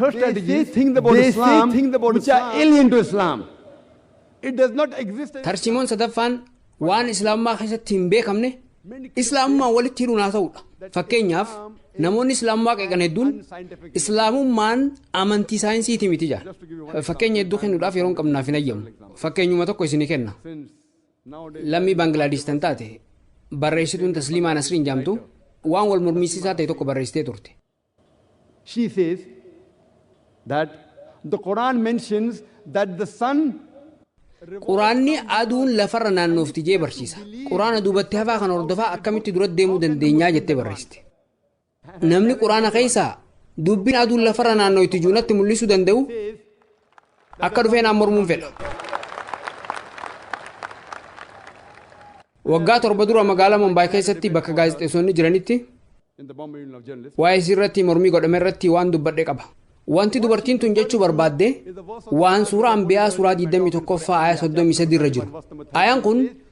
First they strategy, say think about they Islam, say think about which Islam. are alien to Islam. It does not exist. in Tarsiimoon sadaffaan waan islaamummaa keessatti hin beekamne islaamummaan walitti hidhuun haa ta'udha. Fakkeenyaaf namoonni islaamummaa qeeqan hedduun islaamummaan amantii saayinsiiti miti jedha. Fakkeenya hedduu kennuudhaaf yeroo hin qabnaaf hin ayyamu. Fakkeenyuma tokko isinii kenna. Since nowadays, Lammii Baangilaadesh tan taate barreessituun Tasliimaa Nasriin jaamtu waan wal mormiisisaa ta'e tokko barreessitee turte. She says that the Quran mentions that the sun Quraanni aduun lafarra naannoofti jee barsiisa. Quraana duubatti hafaa kana hordofaa akkamitti dura deemuu dandeenyaa jettee barreessite. Namni Quraana keessaa dubbiin aduun lafarra naannooyti juunatti mul'isuu danda'u Akka dhufee naan mormuun fedha. Waggaa torba dura magaalaa Mumbaay keessatti bakka gaazexeessonni jiranitti waa'ee isii irratti mormii godhame irratti waan dubbadhe qaba. Wanti dubartiin tun jechuu barbaadde waan suuraa Anbiyaa suuraa 21ffaa ayaa 33 irra jiru. Ayaan kun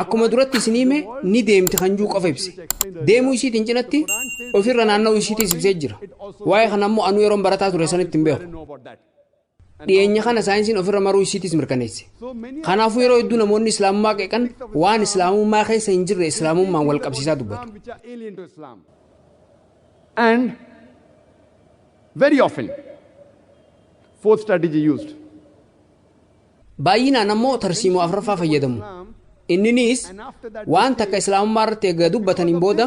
Akkuma duratti isinii hime ni deemti kan jiru qofa ibse. Deemuu isiitiin cinatti ofirra naanna'uu isiitiis ibsee jira. Waa'ee kana ammoo anuu yeroon barataa ture sanitti hin beeku. Dhiyeenya kana saayinsiin ofirra maruu isiitiis mirkaneesse. Kanaafuu yeroo hedduu namoonni Islaamummaa qeeqan waan Islaamummaa keessa hin jirre Islaamummaan wal qabsiisaa dubbatu. And very often, fourth strategy used. Baay'inaan ammoo tarsiimoo afraffaa fayyadamu. Inniniis waan takka Islaamummaa irratti eega dubbataniin booda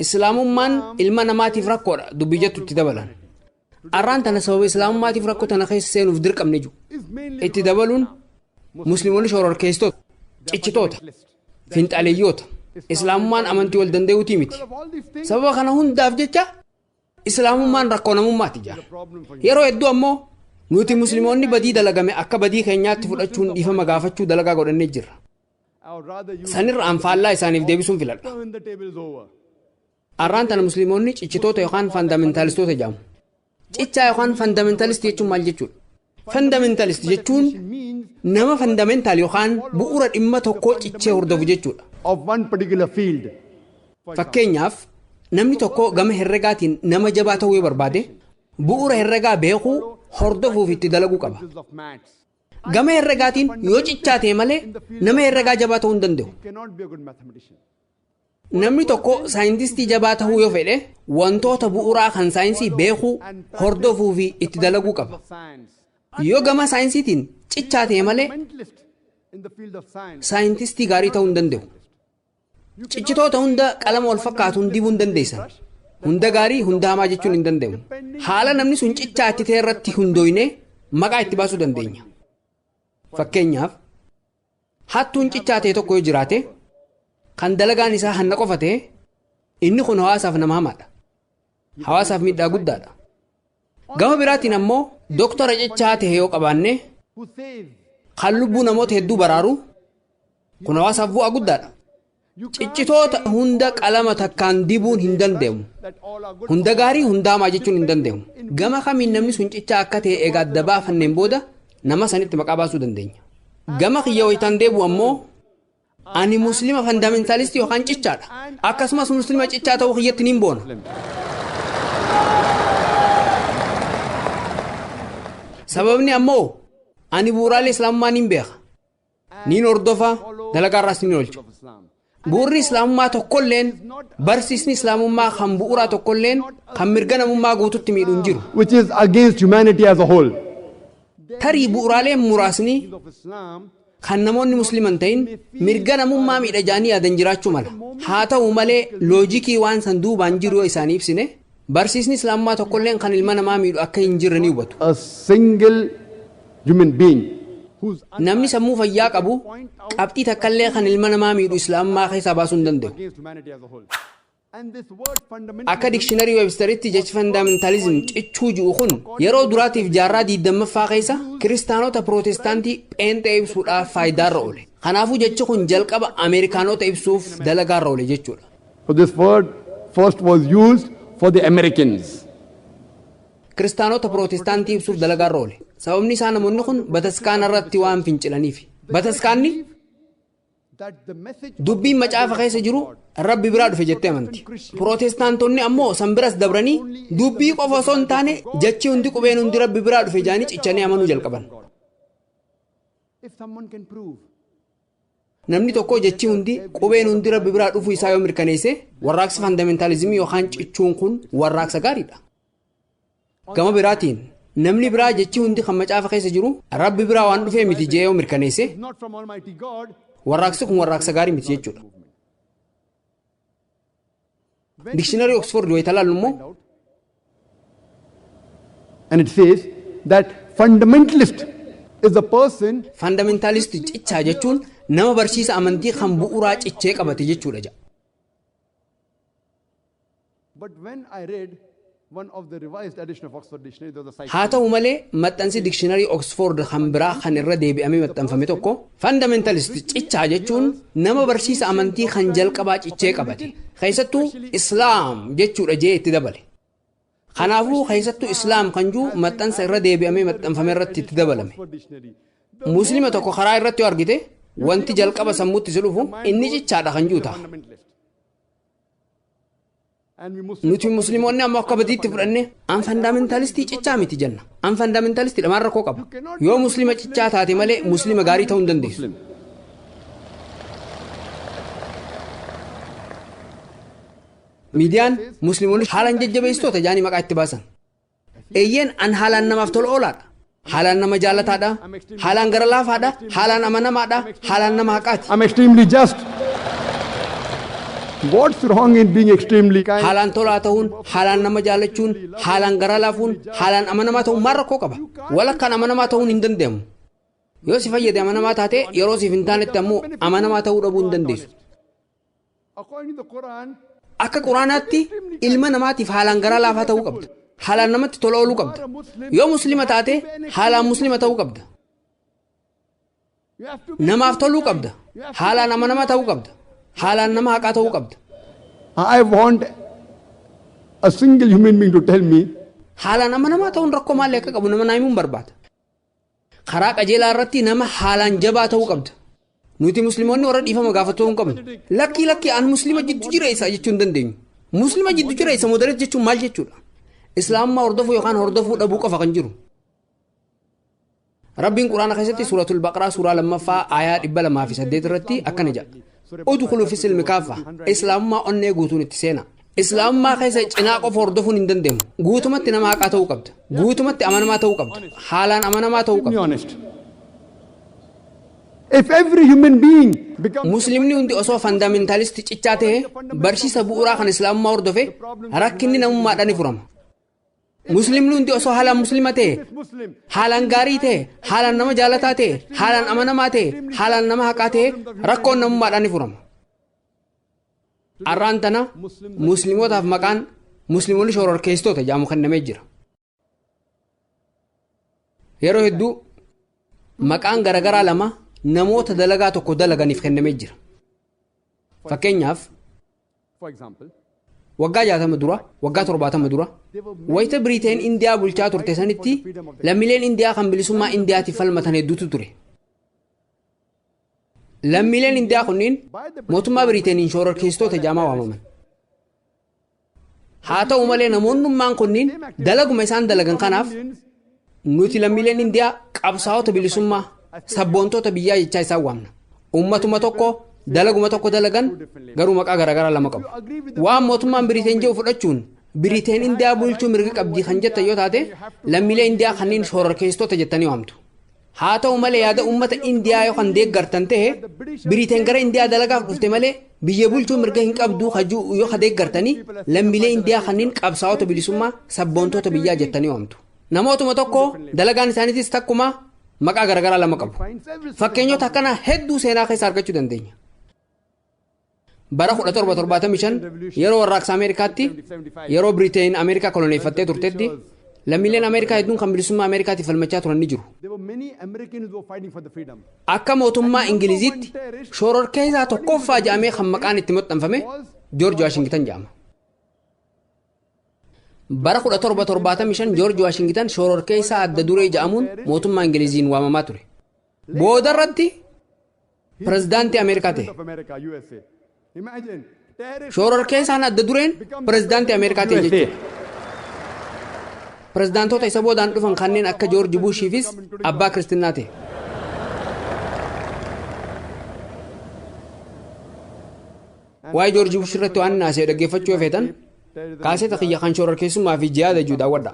Islaamummaan ilma namaatiif rakkoodha dubbii jettu itti dabalan. Arraan tana sababa Islaamummaatiif rakkoo tana keessa seenuuf dirqamne jiru. Itti dabaluun Musliimonni shororkeessitoota, cichitoota, finxaaleyyoota. Islaamummaan amantii wal danda'uutii miti. Sababa kana hundaaf jecha Islaamummaan rakkoo namummaati jedhan. Yeroo hedduu ammoo nuti muslimoonni badii dalagame akka badii keenyaatti fudhachuun dhiifama gaafachuu dalagaa godhannee jirra. Sanirra an faallaa isaaniif deebisuun filadha. Arraan tana muslimoonni cichitoota yookaan fandaamentaalistoota jedhamu. Cichaa yookaan fandaamentaalistii jechuun maal jechuudha? Fundamentalist jechuun nama fundamental yookaan bu'ura dhimma tokkoo cichee hordofu jechuudha. of one particular field. Fakkeenyaaf, namni tokko gama herregaatiin nama jabaa ta'uu yoo barbaade, bu'ura herregaa beekuu, hordofuu fi itti dalaguu qaba. Principles of maths. Gama herregaatiin yoo cichaa ta'e malee nama herregaa jabaa ta'uu hin danda'u. Cannot be a good mathematician. Namni tokko saayintistii jabaa ta'uu yoo fedhe wantoota bu'uuraa kan saayinsii beekuu, hordofuu fi itti dalaguu qaba. Yoo gama saayinsiitiin cichaa ta'e malee saayintistii gaarii ta'uu hin danda'u. Cichitoota hunda qalama wal fakkaatuun dibuu hin dandeessan. Hunda gaarii hunda hamaa jechuun hin danda'amu. Haala namni sun cichaa itti ta'e irratti hundooyne maqaa itti baasuu dandeenya. Fakkeenyaaf Hattuun cichaa ta'e tokko yoo jiraate, kan dalagaan isaa hanna qofa ta'e, inni kun hawaasaaf nama hamaadha. Hawaasaaf miidhaa guddaadha. Gama biraatiin ammoo doktora cichaa ta'e yoo qabaanne, kan lubbuu namoota hedduu baraaru, kun hawaasaaf bu'aa guddaadha. Ciccitoota hunda qalama takkaan dibuun hin dande'mu. Hunda gaarii hundaa hamaa jechuun hin dande'mu. Gama kamiin namni sun cichaa akka ta'e eega adda baafanneen booda nama sanitti maqaa baasuu dandeenya. Gama kiyya waytaan deebi'u ammoo ani muslima fandaamentaalistii yookaan cichaadha. Akkasumas muslima cichaa ta'uu kiyyatti nin boona. Sababni ammoo ani bu'uuraalee islaamummaa nin beeka. niin hordofa, dalagaarraas niin oolcha. Bu'urri Islaamummaa tokkolleen, barsiisni Islaamummaa kan bu'uraa tokkolleen kan mirga namummaa guututti miidhu hin jiru. which is against humanity as a whole. Tarii bu'uraaleen muraasni kan namoonni Muslima hin ta'in mirga namummaa miidha jedhanii yaadan jiraachuu mala. Haa ta'u malee loojikii waan san duubaan jiru yoo isaanii ibsine Barsiisni Islaamummaa tokkolleen kan ilma namaa miidhu akka hin jirre ni hubatu. a single human being whose Namni sammuu fayyaa qabu qabxii takkallee kan ilma namaa miidhu Islaamummaa keessaa baasuu hin dandayu. against humanity as a whole. And this word fundamentalism Akka dikshiinarii Websteritti jechi fandaamentaalizim cichuu ji'u kun yeroo duraatiif jaarraa 20ffaa keessa kiristaanota pirootestaantii pheenxee ibsuudhaaf faayidaarra oole. Kanaafuu jechi kun jalqaba Ameerikaanota ibsuuf dalagaarra oole jechuudha. So this word first was used for the Americans. Kiristaanota Pirootestaantii ibsuuf dalagaarra oole. Sababni isaa namoonni kun bataskaana irratti waan fincilaniif. Bataskaanni dubbiin macaafa keessa jiru rabbi biraa dhufe jettee amanti. Pirootestaantonni ammoo san biras dabranii dubbii qofa osoo hin taane jechi hundi qubeen hundi rabbi biraa dhufe jaanii cichanii amanuu jalqaban. Namni tokko jechi hundi, qubeen hundi Rabbi biraa dhufuu isaa yoo mirkaneesse, warraaqsi fandamentalizimii yookaan cichuun kun warraaqsa gaariidha. Gama biraatiin, namni biraa jechi hundi kan macaafa keessa jiru Rabbi biraa waan dhufee miti jee yoo mirkaneesse, warraaqsi kun warraaqsa gaarii miti jechuudha. Dikshinarii Oksfoord wayita ilaallu immoo And it says that fundamentalist is a person Faandamentaalisti cichaa jechuun nama barsiisa amantii kan bu'uuraa cichee qabate jechuudha jedha. But when I read Haa ta'u malee, maxxansi dikshinarii Oksfoord kan biraa kan irra deebi'amee maxxanfame tokko, Fundamentalist cichaa jechuun nama barsiisa amantii kan jalqabaa cichee qabate, keessattuu Islaam jechuu dha je'ee itti dabale. Kanaafuu, keessattuu Islaam kan ji'u maxxansa irra deebi'amee maxxanfame irratti itti dabalame. Muslima tokko karaa irratti yoo argite, wanti jalqaba sammuutti si dhufu, inni cichaa dha kan ji'u taha. Nuti Musliimonni ammoo akka badiitti fudhanne an fandaamentaalistii cichaa miti jenna. An fandaamentaalistii dha maal rakkoo qaba? Yoo Musliima cichaa taate malee Musliima gaarii ta'uu hin dandeessu. Miidiyaan Musliimonni haalaan jajjabeessitoota jedhanii maqaa itti baasan. Eeyyeen, an haalaan namaaf tola oolaa dha. Haalaan nama jaallataa dha. Haalaan gara laafaa dha. Haalaan amanamaa dha. Haalaan nama haqaa ti. I'm extremely just. What's wrong in being extremely kind? Haalaan tolaa ta'uun, haalaan nama jaallachuun, haalaan garaa laafuun, haalaan amanamaa ta'uun maal rakkoo qaba? Walakkaan amanamaa ta'uun hin danda'amu. Yoo si fayyade amanamaa taate, yeroo siif hin taanetti ammoo amanamaa ta'uu dhabuu hin dandeessu. According to the Quran, Akka Quraanaatti ilma namaatiif haalaan garaa laafaa ta'uu qabda. Haalaan namatti tola ooluu qabda. Yoo Muslima taate haalaan Muslima ta'uu qabda. you have to be Namaaf toluu qabda. You have to be Haalaan amanamaa ta'uu qabda. Haalaan nama haqaa ta'uu qabda. I want a single human being to tell me Haalaan amanamaa ta'uun rakkoo maalii akka qabu nama naa himuun barbaada. Karaa qajeelaa irratti nama haalaan jabaa ta'uu qabda. Nuti Muslimoonni warra dhiifama gaafatu ta'uu hin qabnu. Lakkii lakkii an Muslima jiddu jireessa jechuu hin dandeenyu. Muslima jiddu jireessa moderate jechuun maal jechuudha? Islaamummaa hordofuu yookaan hordofuu dhabuu qofa kan jiru. Rabbiin Quraana keessatti suuratul Baqaraa suuraa lammaffaa aayaa dhibba lamaa fi saddeet irratti akkana jedha. Udkhulu fi silmi kaaffa. Islaamummaa onnee guutuun itti seena. Islaamummaa keessa cinaa qofa hordofuun hin danda'amu. Guutumatti nama haqaa ta'uu qabda. Guutumatti amanamaa ta'uu qabda. Haalaan amanamaa ta'uu Be qabda. honest. If every human being becomes Musliimni hundi osoo fandaamentaalisti cichaa ta'e barsiisa bu'uuraa kan Islaamummaa hordofe rakkinni namummaadhaan ni furama. Musliimni hundi osoo haalaan Musliima ta'e Muslim, haalaan gaarii ta'e, haalaan nama jaalataa ta'e, haalaan amanamaa ta'e, haalaan nama haqaa ta'e rakkoon namummaadhaan ni furama. Arraan tana Musliimotaaf maqaan Musliimonni shororkeessitoota jedhamu kennamee jira. Yeroo hedduu maqaan garaagaraa lama namoota dalagaa tokko dalaganiif kennamee jira. Fakkeenyaaf waggaa jaatama dura waggaa torbaatama dura wayita biriiteen indiyaa bulchaa turte sanitti lammiileen indiyaa kan bilisummaa indiyaatiif falmatan hedduutu ture Lammiileen Indiyaa kunniin mootummaa Biriiteeniin shoororkeessitoota jaamaa waamaman. Haa ta'u malee namoonnummaan kunniin dalaguma isaan dalagan kanaaf nuti lammiileen Indiyaa qabsaa'ota bilisummaa sabboontoota biyyaa jechaa isaan waamna. Uummatuma tokko dalaguma tokko dalagan garuu maqaa garaagaraa lama qabu. Waan mootummaan Biriiteen jedhu fudhachuun Biriiteen Indiyaa bulchuu mirga qabdi kan jettan yoo taate lammiilee Indiyaa kanneen shoororkeessitoota jettanii waamtu. Haa ta'u malee yaada uummata Indiyaa yoo kan deeggartan ta'e Biriiteen gara Indiyaa dalagaaf dhufte malee biyya bulchuu mirga hin qabduu hajuu yoo ka deeggartanii lammiilee Indiyaa kanneen qabsaa'ota bilisummaa sabboontoota biyyaa jettanii waamtu. Namootuma tokko dalagaan isaaniitis takkuma maqaa garagaraa lama qabu. Fakkeenyota akkanaa hedduu seenaa keessa argachuu dandeenya. Bara 1775 yeroo warraaqsa Ameerikaatti yeroo Biriteen Ameerikaa koloneeffattee turtetti lammiileen Ameerikaa hedduun kan bilisummaa Ameerikaatiif falmachaa turan ni jiru. Akka mootummaa Ingiliziitti shororkeessaa tokkoffaa jedhamee kan maqaan itti maxxanfame Joorji Waashingitan jedhama. Bara 1775 Joorji Waashingitan shororkeessaa adda duree jedhamuun mootummaa Ingiliziin waamamaa ture. Boodarratti pirezidaantii Ameerikaa ta'e. Shoororkeessaan adda dureen pirezidaantii Ameerikaa ta'e jechuudha. Pirezidaantoota isa boodaan dhufan kanneen akka Joorji Buushiifis abbaa kiristinnaa ta'e. Waa'ee Joorji Buush irratti waan naasee dhaggeeffachuu yoo feetan kaaseta kiyya kan shoororkeessummaa fi jihaada jiru daawwadha.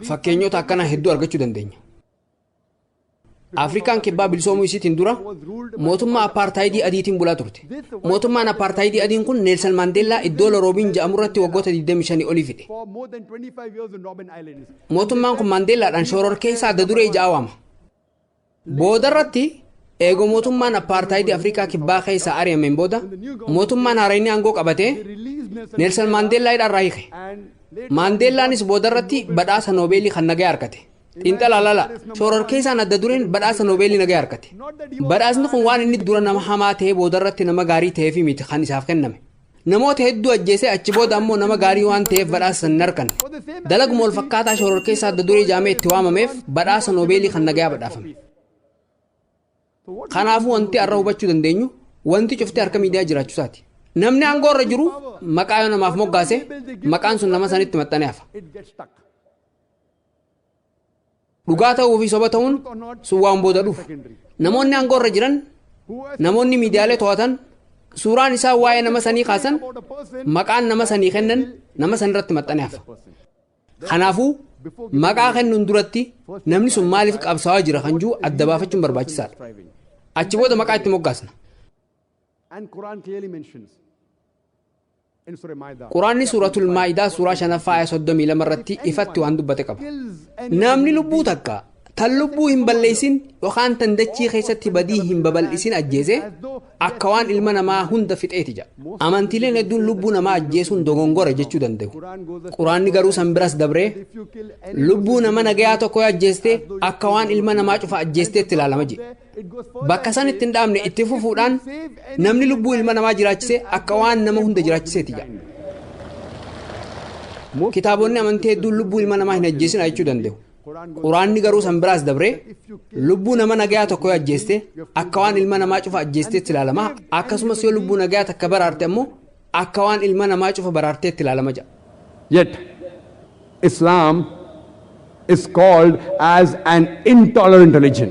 Fakkeenyota akkanaa hedduu argachuu dandeenya. Afrikaan kibbaa bilisoomuu isiitiin dura mootummaa appaartaayidii adiitiin bulaa turte. Mootummaan appaartaayidii adiin kun Neelsan Maandeellaa iddoo Loroobiin ja'amurratti waggoota 25 olii fide. Mootummaan kun Maandeellaadhaan shoororkeessaa adda duree ja'a waama. Boodarratti, eega mootummaan appaartaayidii Afrikaa Kibbaa keessaa ari'ameen booda, mootummaan haarayni aangoo qabate, Neelsan Maandeellaa hidhaa irraa hiike. Maandeellaanis boodarratti badhaasa Noobeelii kan nagayaa arkate. Xiinxalaa lala, shororkeessaan adda dureen badhaasa Noobeelii nagayaa arkate. Badhaasni kun waan inni dura nama hamaa ta'ee boodarratti nama gaarii ta'eefi miti kan isaaf kenname. Namoota hedduu ajjeesee achi booda ammoo nama gaarii waan ta'eef badhaasa san hin arkanne. Dalaguma wal fakkaataa shororkeessaa adda duree jaamee itti waamameef badhaasa Noobeelii kan nagayaa badhaafame. Kanaafuu wanti har'a hubachuu dandeenyu wanti cufti harka miidiyaa jiraachuusaati. Namni aangoo irra jiru maqaa yoo namaaf moggaase maqaan sun nama sanitti maxxanee hafa. Dhugaa ta'uu fi soba ta'uun sun waan booda dhufu. Namoonni aangoo irra jiran, namoonni miidiyaalee to'atan, suuraan isaan waa'ee nama sanii kaasan, maqaan nama sanii kennan nama san irratti maxxanee hafa. Kanaafuu maqaa kennuun duratti namni sun maaliif qabsaawaa jira kan jiru adda baafachuun barbaachisaadha. Achi booda maqaa itti moggaasna. Qur'aanni Suuratul Maa'idaa suuraa 5ffaa aaya 32 irratti ifatti waan dubbate qaba. Namni lubbuu takka tan lubbuu hin balleessin yookaan tan dachii keessatti badii hin babal'isin ajjeese akka waan ilma namaa hunda fixeeti jedha. Amantiileen hedduun lubbuu namaa ajjeesuun dogongora jechuu danda'u. Quraanni garuu san biras dabree lubbuu nama nagayaa tokko yoo ajjeeste akka waan ilma namaa cufa ajjeesteetti ilaalama jedhe. Bakka san itti hin dhaabne itti fufuudhaan namni lubbuu ilma namaa jiraachise akka waan nama hunda jiraachiseeti jedha. Kitaabonni amantii hedduun lubbuu ilma namaa hin ajjeesina jechuu danda'u. Quraanni garuu san biraas dabree lubbuu nama nagayaa tokko yoo ajjeeste akka waan ilma namaa cufa ajjeesteetti ilaalama akkasumas yoo lubbuu nagayaa takka baraarte ammoo akka waan ilma namaa cufa baraarteetti ilaalama jedha. Yet, Islam is called as an intolerant religion.